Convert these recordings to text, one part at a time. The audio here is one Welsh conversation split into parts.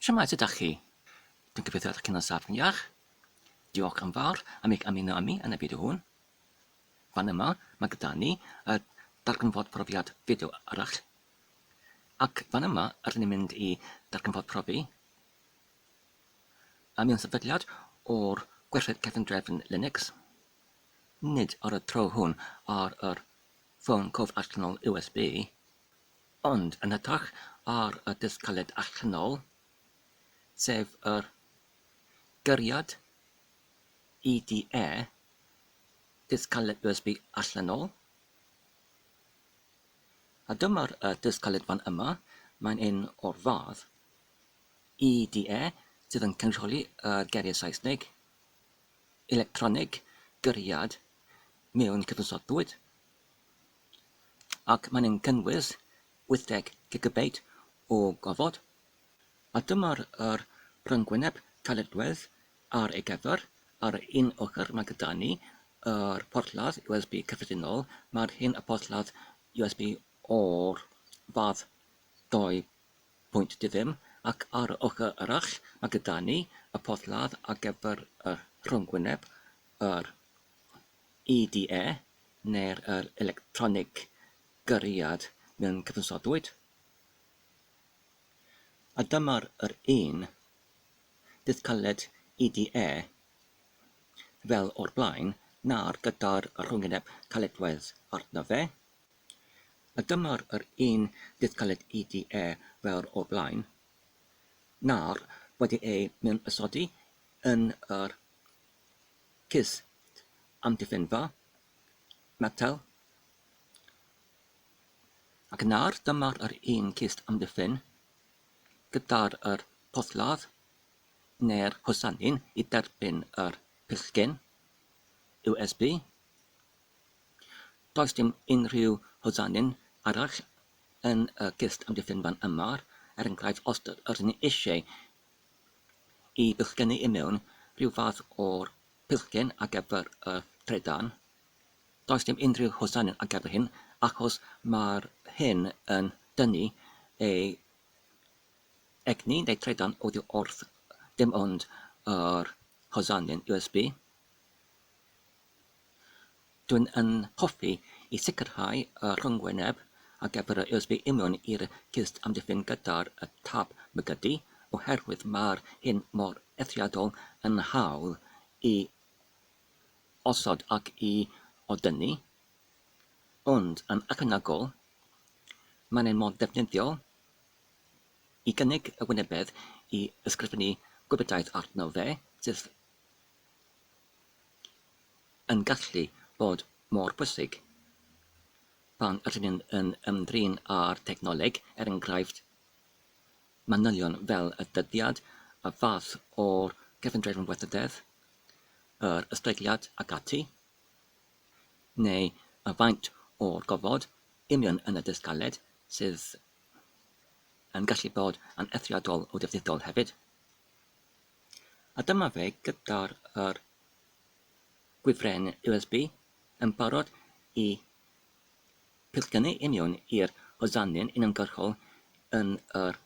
Shwmae, sut dach chi? Dwi'n gobeithio ydych chi'n saff yn iach. Diolch yn fawr am eich ymuno â mi yn y fideo hwn. Fan yma, mae gyda ni y darganfod profiad fideo arall. Ac fan yma, rydyn ni'n mynd i darganfod profi am un sefydliad o'r gwerthoedd cefndrefn Linux. Nid ar y tro hwn ar yr ffôn cof allanol USB, Ond yn hytrach ar y dull caled a chynnal, sef yr gariad EDA, dull caled USB allanol, a dyma'r uh, dull caled fan yma, mae'n un o'r fath EDA sydd yn cynrychioli y geiriau Saesneg, electronig, gyriad, mewn cyfnod bwyd. ac maen nhw'n cynnwys 80 gigabeit o gofod, a dyma'r yr rhyngwyneb caledwedd ar ei gyfer, ar un ochr mae gyda ni yr porthladd USB cyffredinol, mae'r hyn y porthladd USB o'r fath 2.20, ac ar yr ochr arall mae gyda ni y porthladd ar gyfer y rhyngwyneb, yr EDA, neu'r yr electronig gyriad mewn cyfansodwyd. A dyma'r yr un bydd cyllid EDA fel o'r blaen na'r gyda'r rhwyngeneb caledwedd arno fe. A dyma'r yr un bydd cyllid EDA fel o'r blaen na'r wedi ei mewnysodi yn yr Cys, amddiffynfa, metel, ac nawr dyma yr un cist amddiffyn gyda'r yr porthladd neu'r hosanyn i dderbyn yr plisgyn USB. Does dim unrhyw hosanyn arall yn y cist amddiffynfa yma, er enghraifft os rydyn ni eisiau y pillgeni i mewn, rhyw fath o'r pillgen ar gyfer y trydan. Does dim unrhyw hosanau ar gyfer hyn, achos mae'r hyn yn dynnu ei egni neu trydan oddi wrth dim ond yr hosanau'n USB. Dyn yn hoffi i sicrhau y rhyngwyneb a gefur y USB i mewn i'r cist amddiffyn gyda'r tab mygydu oherwydd mae'r hyn mor eithriadol yn hawdd i osod ac i odynnu, ond yn ychwanegol, mae'n un mor ddefnyddiol i gynnig y wynebedd i ysgrifennu gwybodaeth arno fe, sydd yn gallu bod mor bwysig pan ydyn ni yn ymdrin â'r technoleg, er enghraifft, manylion fel y dyddiad, y fath o'r gefndrefn weithrededd, yr ysblygiad ac ati, neu y faint o'r gofod, union yn y dyst galed, sydd yn gallu bod yn eithriadol o ddefnyddiol hefyd. A dyma fe gyda'r yr gwifren USB yn barod i pillgynnu i mewn i'r hosanyn uniongyrchol yn yr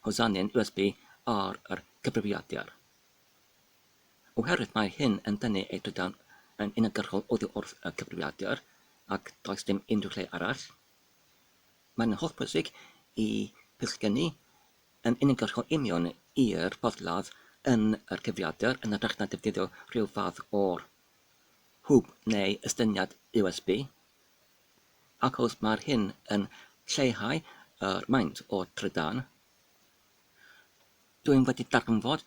hosanyn USB ar yr cyfrifiadur. Oherwydd mae hyn yn dynnu ei drydan yn uniongyrchol oddi wrth y cyfrifiadur ac does dim unrhyw lle arall, mae'n hollbwysig i pillgynnu yn unigol rho union i'r porthladd yn yr cyfrifiadur yn hytrach na defnyddio rhyw fath o hwb neu estyniad USB, ac os mae'r hyn yn lleihau yr maint o trydan, dw i'n wedi darganfod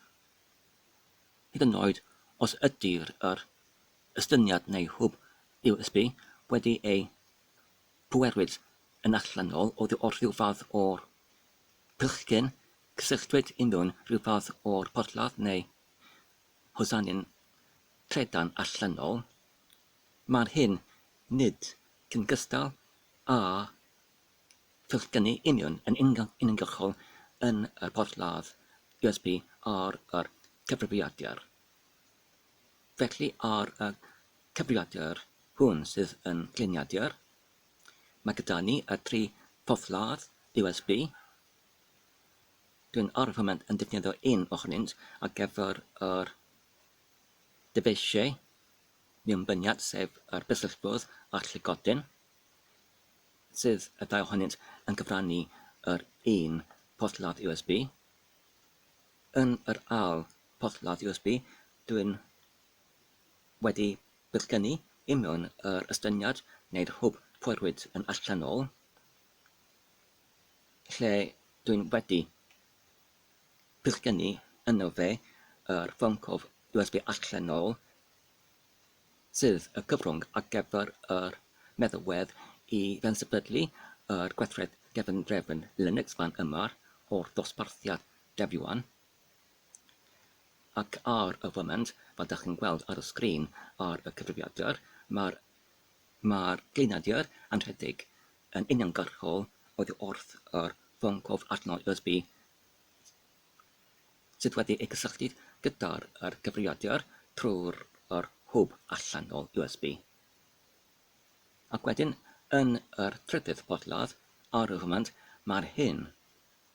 hyd yn oed os ydy'r yr estyniad neu hwb USB wedi ei pwerwyd yn allanol oddi wrth rhyw fath o Bechgyn, cysylltwyd ynddo'n rhyw fath o'r porthladd neu hosanyn trydan allanol. Mae'r hyn nid yn gystal â phechgynnu union yn uniongyrchol yn y porthladd USB ar y cyfrifiadur. Felly ar y cyfrifiadur hwn sydd yn gliniadur, Mae gyda ni y tri phorthladd USB. Dwi'n ar y foment yn defnyddio un ohonynt ar gyfer yr dyfeisiau mewnbyniad, sef yr bysellfwrdd a'r llygoden, sydd y ddau ohonynt yn cyfrannu yr un porthladd USB. Yn yr ail porthladd USB, dwi'n wedi Bydd gen i union yr estyniad neu'r hwb poerwyd yn allanol lle dwi'n wedi. Bydd gen i yno fe yr ffoncof USB allanol sydd y cyfrwng ar gyfer yr meddalwedd i fensefydlu yr gweithred gefndrefn Linux fan yma o'r dosbarthiad dev-yuan. Ac ar y foment, fel dach chi'n gweld ar y sgrin ar y cyfrifiadur, mae'r mae'r gliniadur yn rhedeg yn uniongyrchol oddi wrth yr ffôn cof arno USB sydd wedi ei gysylltu gyda'r yr cyfrifiadur trwy'r yr hwb allanol USB. Ac wedyn, yn yr trydydd porthladd, ar y foment, mae'r hyn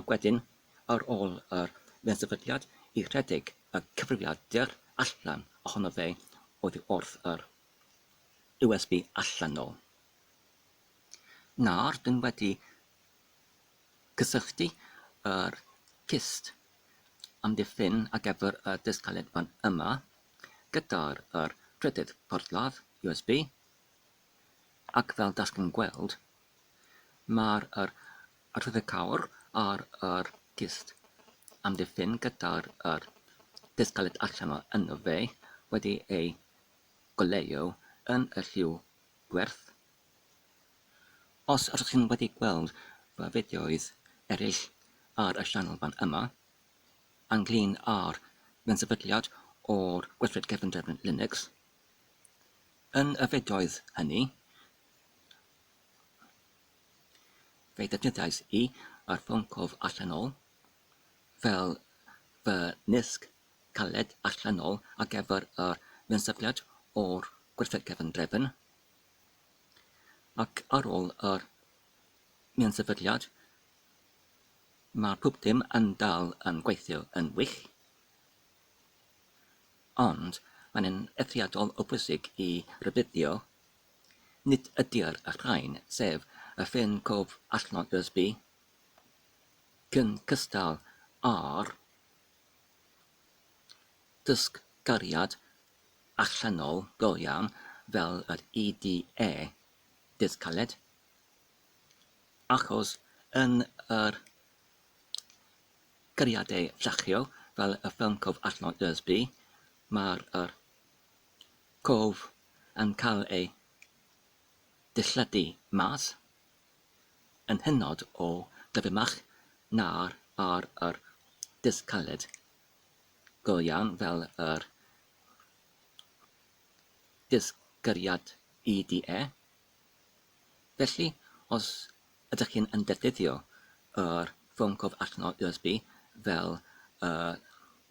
Ac wedyn, ar ôl yr fensefydliad, i redeg y cyfrifiadur allan ohono fe oddi wrth yr USB allan 'nôl. Nawr dyn wedi cysylltu yr cyst amddiffyn ar gyfer y disg caled fan yma gyda'r yr trydydd porthladd USB ac fel dach chi'n gweld mae'r yr A rhyfedd cawr ar yr cist. Amddiffyn gyda'r yr cist galed allan o yno fe, wedi ei goleuo yn y lliw gwerth. Os ydych chi'n wedi gweld fy fideoedd eraill ar y sianel fan yma, ynglŷn â'r fensefydliad o'r gweithred cefndrefn Linux, yn y fideoedd hynny, Fe ddefnyddiais i yr ffôn cof allanol fel fy nisg caled allanol ar gyfer yr ymsafiad o'r gwersyll cefn drefn, ac ar ôl yr ymsafiad mae pob dim yn dal yn gweithio yn wych, ond mae'n eithriadol o bwysig i rybuddio Nid ydy'r rhain, sef y ffin cof allan Busby, cyn cystal â'r dysgariad allanol go iawn fel yr IDA Dydd Caled, achos yn yr cariadau llechiol fel y ffin cof allan Busby, mae'r Cof yn cael ei dilladu mas yn hynod o gyflymach na'r ar yr disg caled, go iawn fel yr disgyriad i di e. Felly, os ydych chi'n yn defnyddio yr ffôn cof allanol USB fel y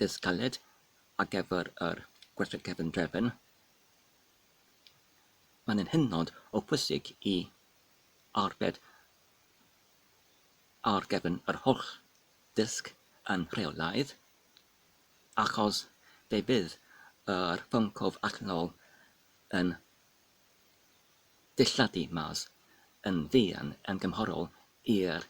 disg caled, ar gyfer yr gweithred cefn drefn, mae'n yn hynod o bwysig i arbed ar gefn yr holl ddisg yn rheolaidd, achos fe fydd yr ffôn cof allanol yn dilladu mas yn fuan yn gymharol i'r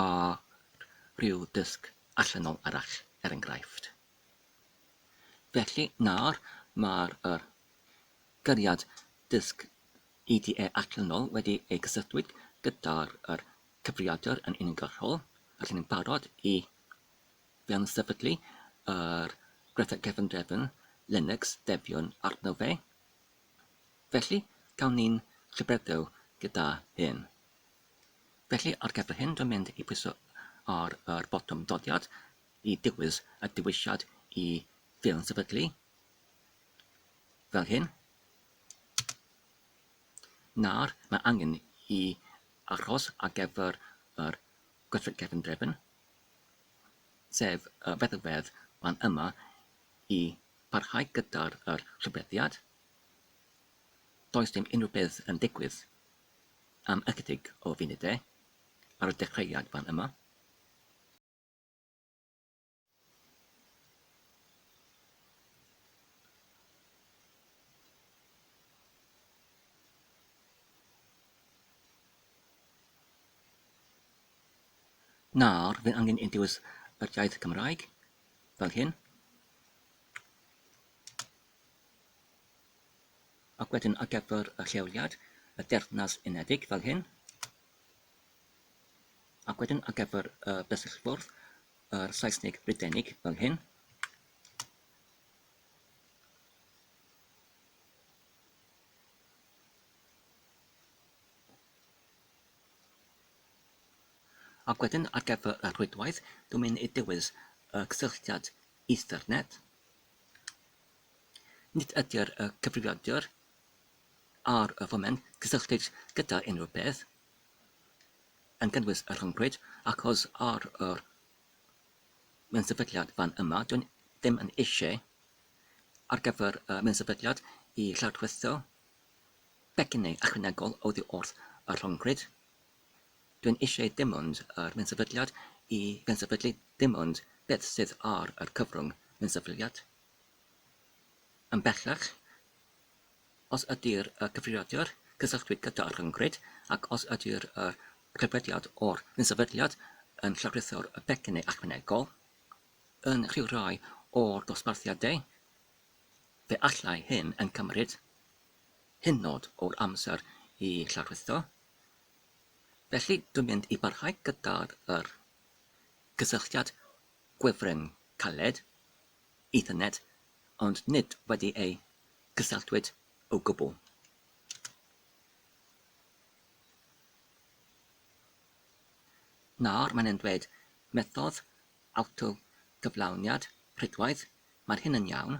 a rhyw dysg allanol arall, er enghraifft. Felly, nawr, mae'r er, gariad dysg IDE allanol wedi ei gysylltwyd gyda'r er, cyfrifiadur yn uniongyrchol, felly ni'n barod i fewn-sefydlu yr Greta Gefndrefn Linux debion arno fe. Felly, gawn ni'n llybreddew gyda hyn. Felly, ar gyfer hyn dwi'n mynd i pwyso ar yr botwm dodiad i dywys y dewisiad i ffilm sefydlu, fel hyn. Nawr, mae angen i achos ar gyfer yr gweithred cefn drefn, sef y feddygfedd fan yma, i barhau gyda'r yr rhybuddiad. Does dim unrhyw beth yn digwydd. am ychydig o funudau ar y dechreuad fan yma. Nawr, fe angen i dewis yr iaith Cymraeg, fel hyn. Ac wedyn ar gyfer y lleoliad, y Deyrnas Unedig fel hyn. Ac wedyn ar gyfer y bysellfwrdd, yr Saesnig Brydeinig fel hyn. Ac wedyn ar gyfer y rhwydwaith, dwi'n mynd i dewis y cysylltiad Ethernet. Nid ydy'r y cyfrifiadur ar y foment cysylltiedig gyda unrhyw beth, yn cynnwys y rhyngrwyd, ac os ar yr mensefydliad fan yma, dw i ddim yn eisiau ar gyfer y mensefydliad i lawrtwytho pecynnau ychwanegol oddi wrth y rhyngrwyd. Dwi'n eisiau dim ond yr un sefydliad i gynsefydlu dim ond beth sydd ar yr cyfrwng Cynsefydliad. Yn bellach, os ydy'r y cyfrifiadur cysylltwyd gyda rhyngrwyd ac os ydy'r y rhyddfediad o'r Cynsefydliad yn llawrytho'r y pecyn neu ychwanegol yn rhyw rai o'r dosbarthiadau, fe allai hyn yn cymryd hynod o'r amser i llawrwytho. Felly, dwi'n mynd i barhau gyda'r yr gysylltiad gwefren caled, Ethernet, ond nid wedi ei gysylltwyd o gwbl. Nawr, mae'n e'n dweud methodd awtogyflawniad rhydwaith, mae'r hyn yn iawn.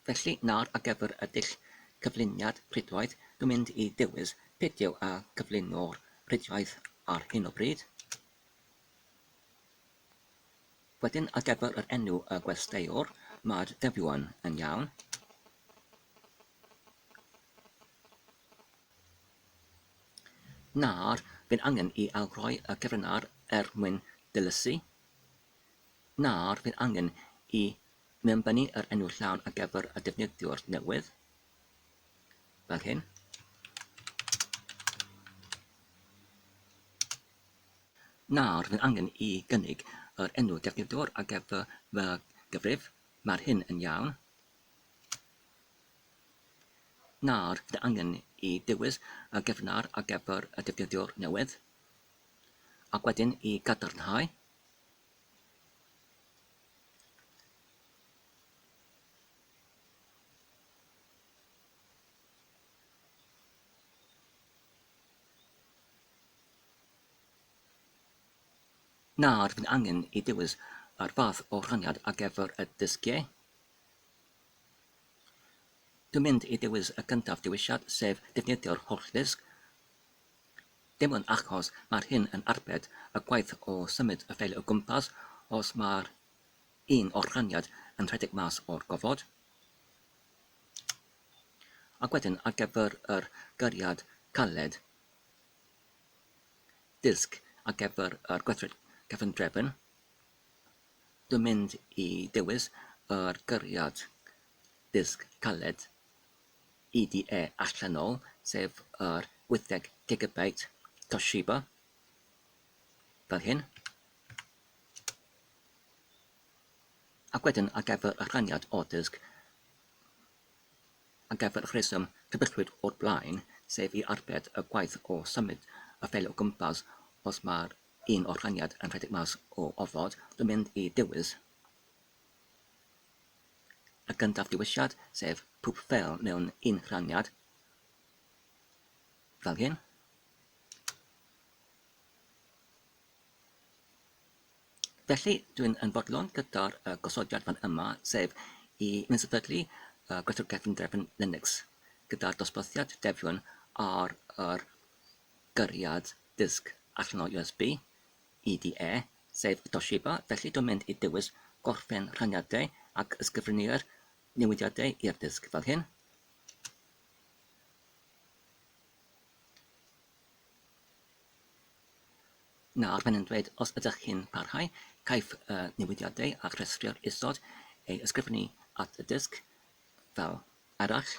Felly, nawr ar gyfer y dull cyflwyniad rhwydwaith, dwi'n mynd i ddewis fideo a gyflwyno'r rhwydwaith ar hyn o bryd. Wedyn, ar gyfer yr enw y gwesteiwr, mae'r dyfio'n yn iawn. Nawr, fi'n angen i awgroi y cyfryngar er mwyn dilysu. Nawr, fi'n angen i Mae o'n bennu yr enw llawn ar gyfer y defnyddiwr newydd, fel hyn. Nawr, rwy'n angen i gynnig yr enw defnyddiwr ar gyfer fy gyfrif. Mae'r hyn yn iawn. Nawr, rwy'n angen i dewis y gefnar ar gyfer y defnyddiwr newydd, ac wedyn i gadarnhau. Na, rwy'n angen i ddewis yr fath o rhaniad ar gyfer y dysgiau. Dwi'n mynd i ddewis y cyntaf dewisiad, sef defnyddio'r holl ddysg. Dim ond achos mae'r hyn yn arbed y gwaith o symud y ffeil o gwmpas os mae'r un o'r rhaniad yn rhedeg mas o'r gofod. Ac wedyn ar gyfer yr gariad caled, disg ar gyfer yr gweithred cefndrefn, dwi'n mynd i dewis yr gariad disg caled. IDE allanol, sef yr wytheg gigabyte Toshiba, fel hyn. Ac wedyn ar gyfer y rhaniad o dysg, ar gyfer y rheswm cybyllwyd o'r blaen, sef i arbed y gwaith o symud y ffeil o gwmpas os mae'r un o'r rhaniad yn rhedeg mas o ofod, dwi'n mynd i ddewis Y gyntaf dewisiad, sef pob ffeil mewn un rhaniad, fel hyn. Felly, dwi'n yn fodlon gyda'r uh, gosodiad fan yma, sef i nesefydlu uh, gwerthu'r gefn drefn Linux, gyda'r dosbarthiad defion ar yr gyriad dysg allanol USB, EDA, sef Toshiba, felly dwi'n mynd i dewis gorffen rhaniadau ac ysgrifennu'r newidiadau i'r dysg fel hyn. Nawr mae'n yn dweud os ydych chi'n parhau, caiff y newidiadau a rhestri'r isod ei ysgrifennu at y dysg fel arall.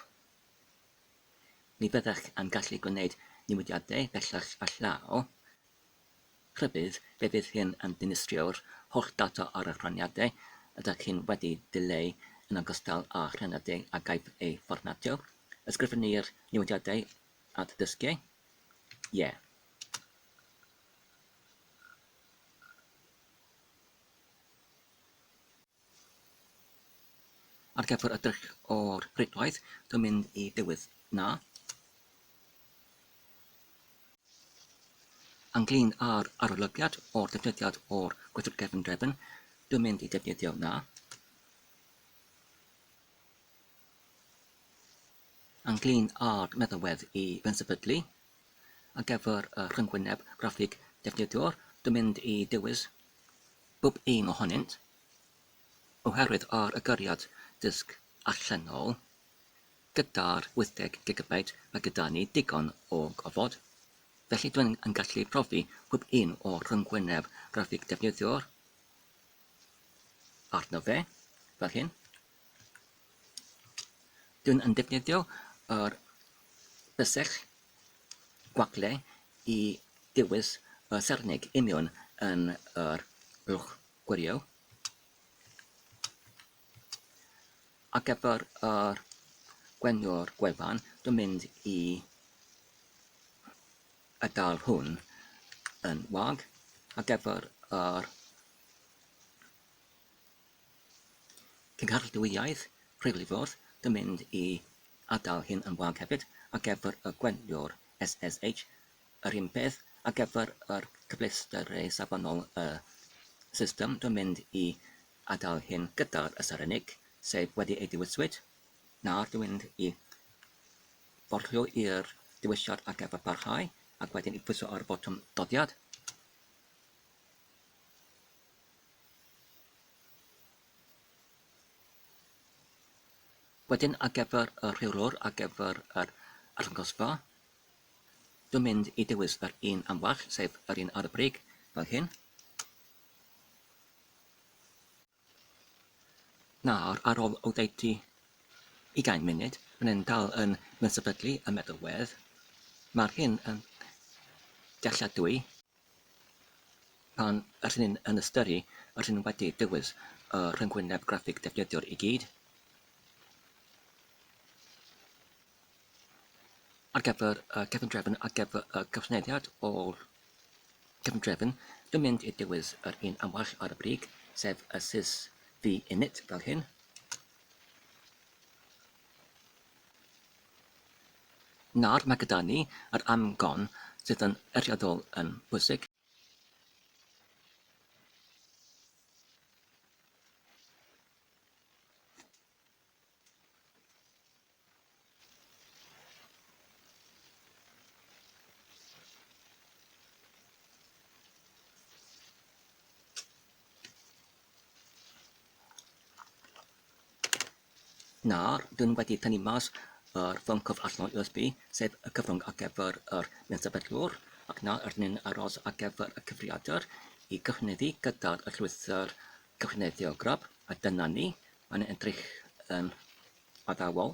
Ni fyddech yn gallu gwneud newidiadau bellach a llaw Rhybudd, fe fydd hyn yn dinistrio'r holl data ar eich rhaniadau ydych chi'n wedi dileu yn ogystal â rhaniadau a gaiff eu fformatio. Ysgrifennir newidiadau at dysgiau? Ie. Yeah. Ar gyfer y drych o'r rhedwaith, dwi'n mynd i ddiwedd 'na. Ynglyn â'r arolygiad o'r defnyddiad o'r gweithwyr cefn drefn, dwi'n mynd i defnyddio 'na. Ynglyn â'r meddalwedd i bensefydlu, ar gyfer y rhyngwyneb graffig defnyddiwr, dwi'n mynd i dewis bob un ohonynt, oherwydd ar agoriad disg allanol, gyda'r 80 gigabyte mae gyda ni digon o gofod, felly dw i'n gallu profi pob un o'r rhyngwyneb graffig defnyddiwr arno fe, fel hyn. Dyn yn defnyddio yr bysedd gwagle i ddewis y sarnig union yn yr uwch gwryw ar gyfer yr gweny'r gwefan dwi'n mynd i adael hwn yn wag ar gyfer yr Cynghorydd-dwyaidd Rheilffordd yn mynd i adael hyn yn wag hefyd ar gyfer y gweithiwr SSH, yr un peth ar gyfer yr cyfleusterau safonol y system yn mynd i adael hyn gyda'r ystyr unig, sef wedi ei ddewiswyd, na'r dwi'n mynd i forlio i'r dewisiad ar gyfer parhau ac wedyn i bwyso ar y botwm doddiad. Wedyn ar gyfer y rheolwr ar gyfer yr arddangosfa, dwi'n mynd i dewis yr un am well, sef yr un ar y brig, fel hyn. Nawr, ar ôl oddeutu ugain munud, mae'n yn dal yn mynsefydlu y meddalwedd. Mae'r hyn yn dealladwy. Pan rŷn ni yn ystyru, rŷn ni wedi dewis y rhyngwyneb graffig defnyddiwr i gyd ar gyfer y cefndrefn ar gyfer y cyfneddiad o'r cefndrefn. Dwi'n mynd i dewis yr un am well ar y brig, sef y sys V-init fel hyn. Nawr mae gyda ni yr amcan sydd yn eithriadol yn bwysig. Nawr, dw i wedi tynnu mas yr ffôn cyfr allan o USB, sef y cyfrwng ar gyfer yr mensefydlwr, ac nawr rydyn ni'n aros ar gyfer y cyfrifiadur i gyhoeddi gyda'r eglwyswr cyhoeddiadwy grub, a dyna ni, mae'n edrych yn addawol.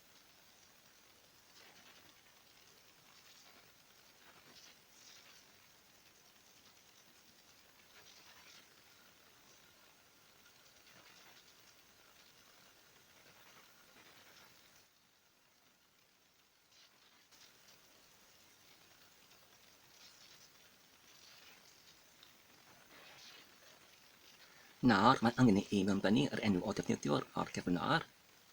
Nawr, mae angen i ni mewnbynnu yr enw o ddefnyddiwr o'r gefn lawr.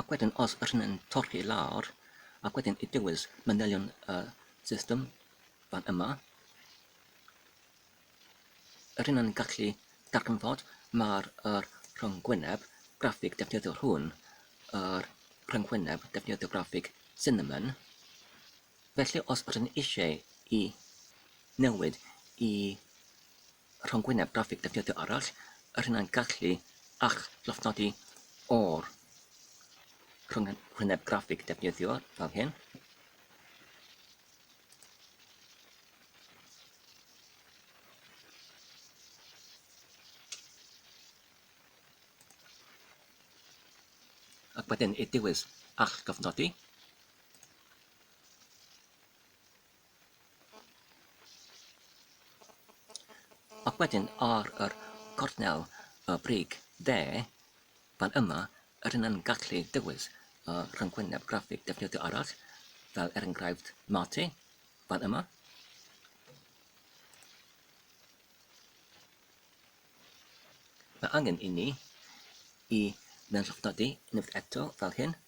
Ac wedyn os rŷn yn torri lawr, ac wedyn i dewis manylion y system fan yma, rŷn yn gallu darganfod mae'r er rhyngwyneb graffig defnyddiol hwn, yr rhyngwyneb defnyddio graffig Cinnamon. Felly os rŷn eisiau i newid i rhyngwyneb graffig defnyddio arall, yr hyn a'n gallu a'ch llofnodi o'r rhyngwyneb graffig defnyddio fel hyn. Ac wedyn i diwys a'ch llofnodi. Ac wedyn ar yr gornel y brig dde, fan yma, rydyn yn gallu dewis y rhyngwyneb graffig defnyddio arall, fel er enghraifft Mate, fan yma. Mae angen i ni i mewn llofnodi unwaith eto fel hyn.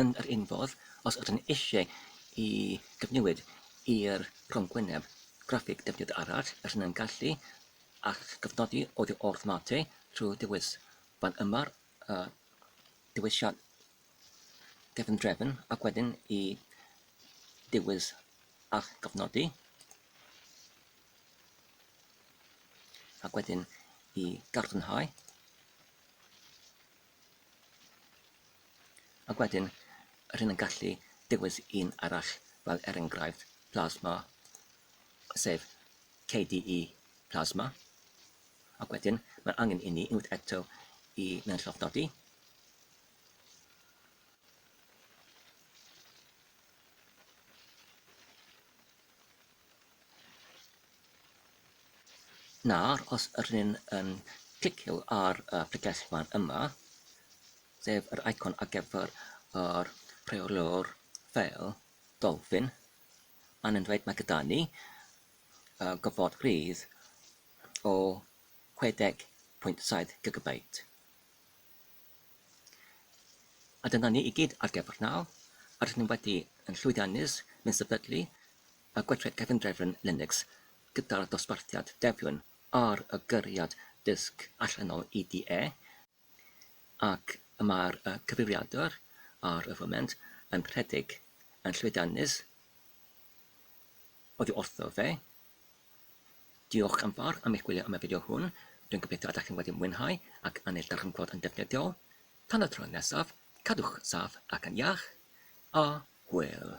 Yn yr un fodd, os ydyn eisiau i gyfnewid i'r rhongwyneb graffig defnydd arall, rydyn yn gallu eich cofnodi oddi wrth Mate trwy ddewis fan yma'r dewisiad gefn drefn ac wedyn i diwydd a gofnodi ac wedyn i gadarnhau ac wedyn rhywun yn gallu digwydd un arall fel er enghraifft plasma sef KDE plasma ac wedyn mae angen i ni unwaith eto i mewn llofnodi Nawr, os ydyn ni'n um, clicio ar y pregeth fan yma, sef yr icon ar gyfer yr rheolwr fel dolfin, mae'n yn dweud mae gyda ni uh, gofod rhydd o 60.7 gigabait. A dyna ni i gyd ar gyfer nawr, a rydyn ni wedi yn llwyddiannus yn sefydlu y gweithred cefndrefn Linux gyda'r dosbarthiad Debian ar y gyriad dysg allanol IDE, ac y mae'r cyfrifiadur ar y foment yn rhedeg yn llwyddiannus oddi wrtho fe. Diolch yn fawr am eich gwylio am y fideo hwn, dwi'n gobeithio ydych chi'n wedi mwynhau ac yn ei ddarllenfod yn defnyddiol. Tan y tro nesaf, cadwch saff ac yn iach, a hwyl!